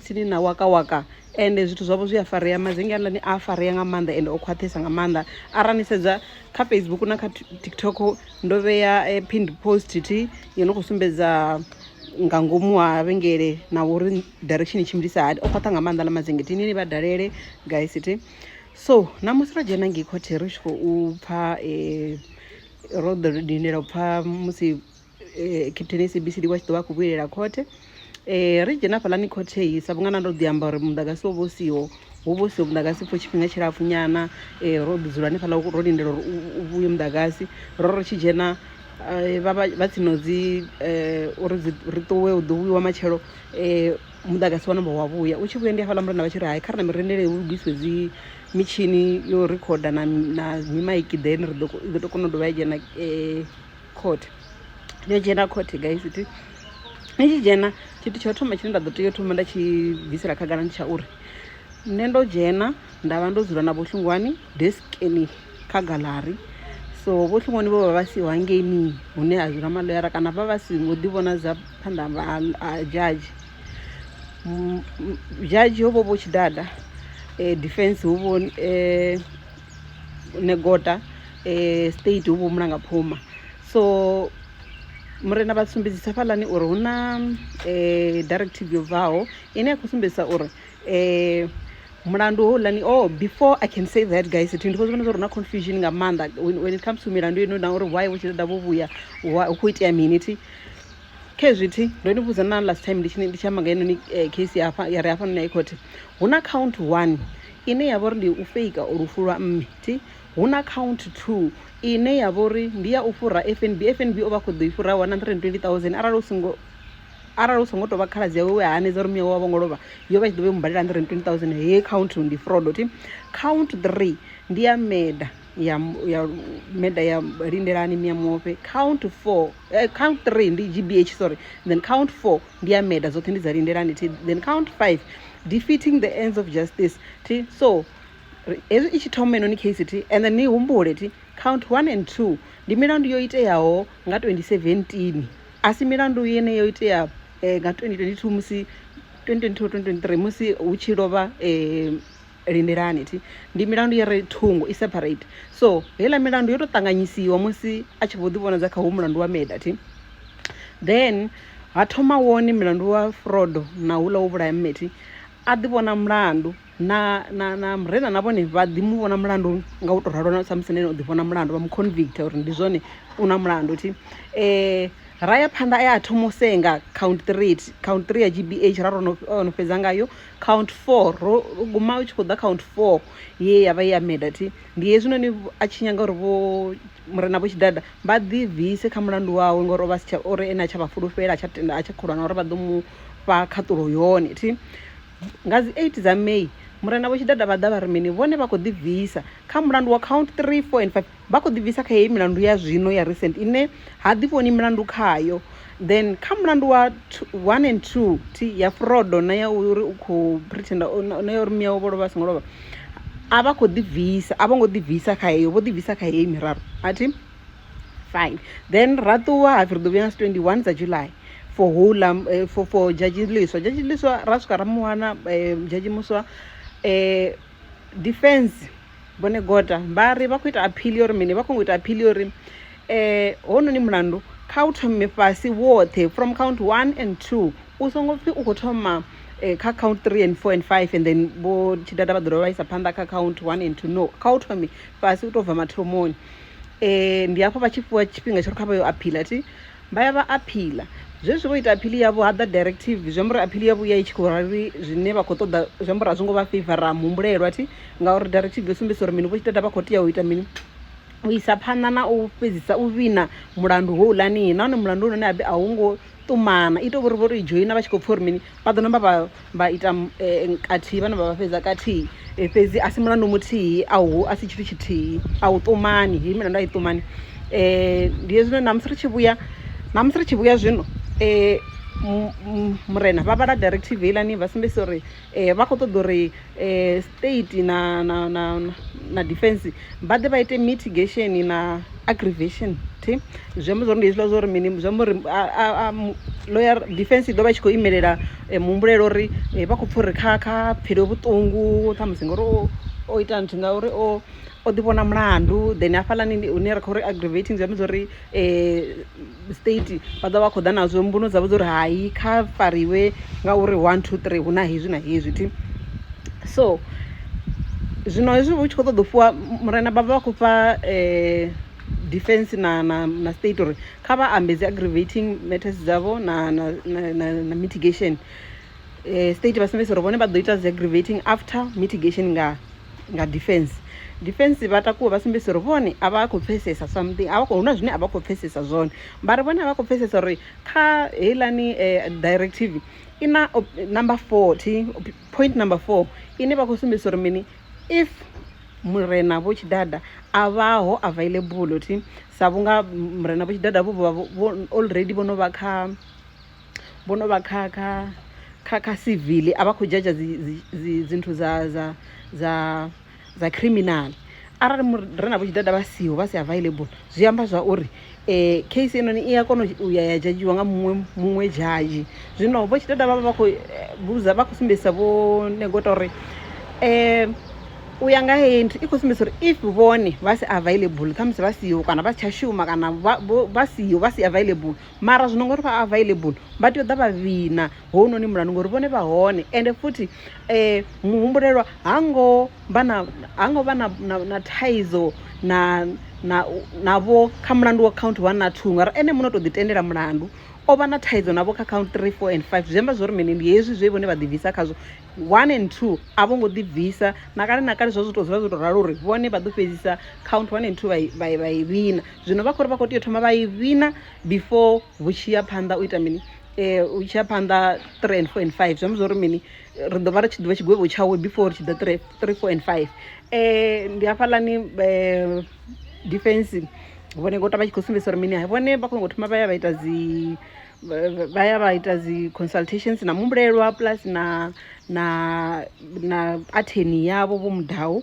tsini na waka waka ende zwithu zwavho zwi a farea mazinge a nḓani a farea nga maanḓa ende o khwaṱhesa nga maanḓa arali ni sedza kha facebook na kha tiktok ndo vhea eh, pinned post thi yo no khou sumbedza nga ngomu ha vhengele na uri direction i tshimbilisa hani o khwaṱha nga maanḓa na mazinge thi nini vha dalele guys thi so namusi ro dzhena ngei khothe ri tshi khou pfa eh, ro ḓo lindela u pfa musi eh, captain sabcd wa tshi ḓo vha khou vhuyelela khothe um ri dzhena fhaḽani khothe i sa vhunga na ndo ḓi amba uri muḓagasi wo vha u siho wo vha u siho muḓagasi for tshifhinga tshilapfu nyana um ro ḓi dzula hanefhaḽa ro lindela uri u vhuye muḓagasi ro ri tshi dzhena eh, vha vha- vha tsino dzi um uri dzi- ri ṱuwe u ḓo vhuyiwa matshelo um muḓagasi wa namba wa vhuya u tshi vhuya ndi hafhaḽa murena vha tshi ri hai kha ri na mirendele hu lugisiwe dzi mitshini yo rikhoda na na mimaiki then ri ḓo ko- i ḓo to kona u dovha ya dzhena um court yo dzhena court guys ti ni tshi dzhena tshithu tsha u thoma tshine nda ḓo tea u thoma nda tshi bvisela khagala ndi tsha uri nṋe ndo dzhena nda vha ndo dzula na vhohlungwani deskeni kha galari so vhohlungwani vho vha vha siho hangeini hune ha dzula maloyara kana vha vha si ngo ḓi vhona dza phanḓa a judge judge ho vho vho tshidada um eh, defense ho vho um eh, negota eh, state hu vhomula nga phuma so murena vha sumbedzisa fhaḽani uri hu na eh, directive yo bvaho ine ya khou sumbedzisa uri eh, mulandu houḽani oh before i can say that guys thi ndi khou zwivhona zwa uri na confusion nga maanḓa when, when it comes to milandu ino na uri why vho tshi ṱoḓa vho vhuya why- hu khou itea mini thi khe zwithi ndo ni vhudza na last time ndi tshi ndi tshi amba nga heinoni eh, case ya hafha- ya re hafhanoni high court hu na count one ine ya vha uri ndi u feika lufu lwa mme thi hu na count two ine ya vha uri ndi ya u fhura fnb fnb o vha khou ḓo i fhura 120000 arali u songo arali u songo tou vha khaladzi yawe we a hanedza uri miyawe wa vho ngo lovha yo vha i tshi ḓo vha i mubalela 120000 heyi count ndi fraud thi count three ndi ya meda ya ya meda ya lindelani miya muofhe count four uh, count three ndi gbh sorry then count four ndi ya meda dzoṱhe ndi dza lindelani thi then count five defeating the ends of justice thi so hezwi i tshi thoma inoni case thi and then ni humbule thi count one and two ndi milandu yo iteaho nga 2017 a si milandu yene yo itea eh, nga 2022 musi 2022 2023 musi hu tshi lovha eh, lindelani thi ndi milandu ya re thungo i separate so heiḽa milandu yo tou ṱanganyisiwa musi a tshi vho ḓivhonadza kha hu mulandu wa meda thi then ha thoma wone mulandu wa frodo na hula wo vhulaya mmethi a ḓi vhona mulandu na na na murena na vhone vha ḓi mu vhona mulandu nga u to ralo na samusi nene u ḓi vhona mulandu vha mu convict uri ndi zwone u na mulandu thi eh ra ya phanḓa ya thoma u senga count 3 count 3 ya gbh ra ro no fhedza ngayo count four ro guma u tshi khou ḓa count four ye ya vha ya meda thi ndi hezwinoni a tshi nyanga uri vho murena vho tshidada vha ḓibvise kha mulandu wawe ngori ovha sitsha uri ene a tsha vha fulufhela a tsha tenda a tsha kholwa na uri vha ḓo mu fha khaṱulo yone thi nga dzi eight dza may murena vho tshidada vha ḓa vha ri mini vhone vha khou ḓibvisa kha mulandu wa count three four and five vha khou ḓibvisa kha heyi milandu ya zwino ya recent ine ha ḓivhoni milandu khayo then kha mulandu wa one and two thi ya frodo na ya uri u khou pretenda na ya uri miyawe vho lovha a songo lovha a vha khou ḓibvisa a vho ngo ḓibvisa kha heyo vho ḓibvisa kha heyi miraru a thi fine then ra ṱuwa hapfi ri ḓo vhuya nga 21 dza july for houḽa eh, for, for judge liswa judge liswa ra swika ra muwana eh, judge muswa eh, defense Bone Gota vha ri vha khou ita aphili uri mini vha khou ita aphili uri um eh, hononi mulandu kha u thome fhasi woṱhe from count one and two u songo pfhi u khou thoma eh, kha count three and four and five and then vho tshidada vha ḓo dovha vha isa phanḓa kha count one and two no kha u thome fhasi u tou bva mathomoni um ndi hafho vha tshi fhiwa tshifhinga tsho ri kha vha yo aphila thi Vha ya vha aphiḽa zwezwi vho ita aphiḽi yavho ha ḓa directive zwi amba uri aphiḽi yavho ya i tshi khou rali zwine vha khou ṱoḓa zwi amba uri a zwi ngo vha feiva ra muhumbulelwa thi ngauri directive yo sumbedzisa uri mini vho tshi ṱoḓa vha khou tea u ita mini u isa phanḓa na u fhedzisa u vhina mulandu ho ulanihi nahone mulandu hone habe a hu ngo ṱumana ita vhori vho to i dzhoina vha tshi khou pfha uri mini vha ḓo namba vha vha ita kathihi vhana vha vha fhedza kathihi fhedzi a si mulandu muthihi a hu a si tshithu tshithihi a u ṱumani heyi milandu a i ṱumani um ndi hezwino ṋamusi ri tshi vhuya ṋamusi ri tshi vhuya zwino um murena vha vhala directive heiḽani vha sumbedzisa uri um vha khou ṱoḓa uri um state na na na na defense vha ḓe vha ite mitigation na aggravation thi zwi amba zwori ndi hezwiḽa zwori mini zwi amba uri lawyer defense i ḓo vha tshi khou imelela eh, muhumbulelo uri eh, vha khou pfha uri kha kha pfhele vhuṱungu ṱhamusi ngori o o ita nthu ngauri o o ḓi vhona mulandu then hafhaḽani hune ra khou ri aggravating zwi amba zwori state vha ḓovha vha kho ḓa nazwo mbuno dzavho dza uri hai kha fariwe ngauri one two three hu na hezwi na hezwi thi so zwino hezwi hu tshi kho ṱoḓa u fhiwa murena vha vha vha khou fha defense na na na state uri kha vha ambe dzi aggravating matters dzavho na na na na mitigation eh, state vha sumbedza uri vhone vha ḓo ita dzi aggravating after mitigation nga nga defense defense vha takuwa vha sumbedza uri vhone a vha khou pfesesa something a vha khou huna zwine a vha khou pfesesa zwone vha ri vhone a vha khou pfesesa uri kha heilani eh, directive i na op- number 40 op- point number 4 ine vha khou sumbedza uri mini if murena vho tshidada a vhaho available thi sa vhunga murena vho tshidada vho vha vho- vho already vho no vha kha vho no vha kha kha kha kha civil a vha khou dzhadzha dzinthu dza dza dza dza criminal arali re na vhutshidada vha siho vha si available zwi amba zwa uri um case enoni i a kona u ya ya dzhadzhiwa nga muṅwe muṅwe dzhadzhi zwino vho tshidada vha vha vha khou eh, vhudza vha khou sumbedzisa vho negota uri um u ya nga heyi nthu i khou sumbedzisa uri if vhone vha si available khamusi vha siho kana vha si tsha shuma kana vha siho vha si available mara zwino ngori vha available vha tea u ḓa vha vhina hounoni mulanu ngori vhone vha hone ende futhi um muhumbulelwa ha ngo vha na ha ngo vha na na- na thaidzo na na navho kha mulandu wa count one na two ngauri ene muno to ḓi tendela mulandu o vha na thaidzo navho kha count three four and five zwi amba zwori mini ndi hezwi zwe vhone vha ḓibvisa khazwo one and two a vho ngo ḓibvisa na kale na kale zwa zwi to dzula zwo to ralo uri vhone vha ḓo fhedzisa count one and two vha i- vha i- vha i vhina zwino vha khori vha khou tea u thoma vha i vhina before vhu tshi ya phanḓa u ita mini um u tshi ya phanḓa three and four and five zwi amba zwori mini ri ḓo vha ri tshi ḓivha tshigwevho tshawe before ri tshi ḓa three three four and five um ndi hafhaḽani um defense vhone gota vha tshi khou sumbedzisa uri mini hai vhone vha khou ngo thoma vha ya vha ita dzi vha ya vha ita dzi consultations na muhumbulelwa plus na na na atheni yavho vho mudau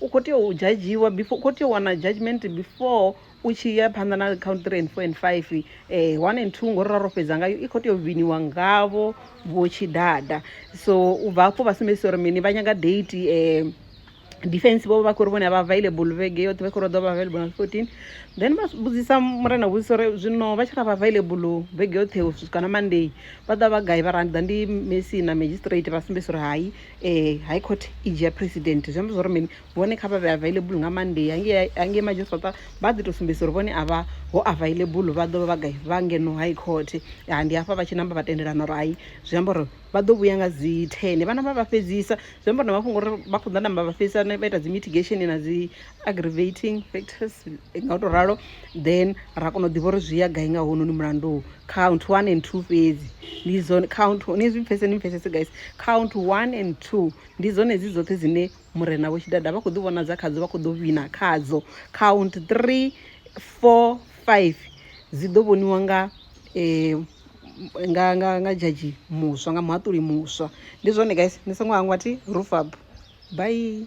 u khou tea u judgiwa before u khou tea u wana judgment before u tshi ya phanḓa na count three and four and five um one and two ngori ra ro fhedza ngayo i khou tea u viniwa ngavho vho tshidada so u bva hafho vha sumbedzisa uri mini vha nyaga date um defense vho vha khou ri vhone vha available vhege yoṱhe vha khou ri ḓo vha available nga 14 then vha vhudzisa murena vhudzisa uri zwino vha tshi ra vha available vhege yoṱhe u swika na monday vha ḓa vha gai vha ra ndi ḓa ndi messi na magistrate vha sumbedzisa uri hai Eh, high court i dzhia president zwi amba zwa uri mini vhone kha vha vhe available nga monday hangei madzhisiṱa vha ḓi tou sumbedzisa uri vhone a vha ho available vha ḓo vha vha gai vha ngeno high court ah, ndi hafha vha tshi namba vha tendelana uri hai zwi amba uri vha ḓo vhuya nga dzi ten vha namba vha fhedzisa zwi amba uri na mafhungo uri vha khou ḓa namba vha fhedzisa vha ita dzi mitigation na dzi aggravating factors nga u tou ralo then ra kona u ḓivha uri zwi ya gai nga hounoni mulandu count one and two fhedzi ndi dzone count ni zwi pfese ni pfesese guys count one and two ndi dzone dzi dzoṱhe dzine murena vho tshidada vha khou ḓi vhonadza khadzo vha khou ḓo wina khadzo count three four five dzi ḓo vhoniwa nga eh, nga nga nga dzhadzhi muswa nga muhaṱuli muswa ndi zwone guys ni songo hangwa thi rufab bye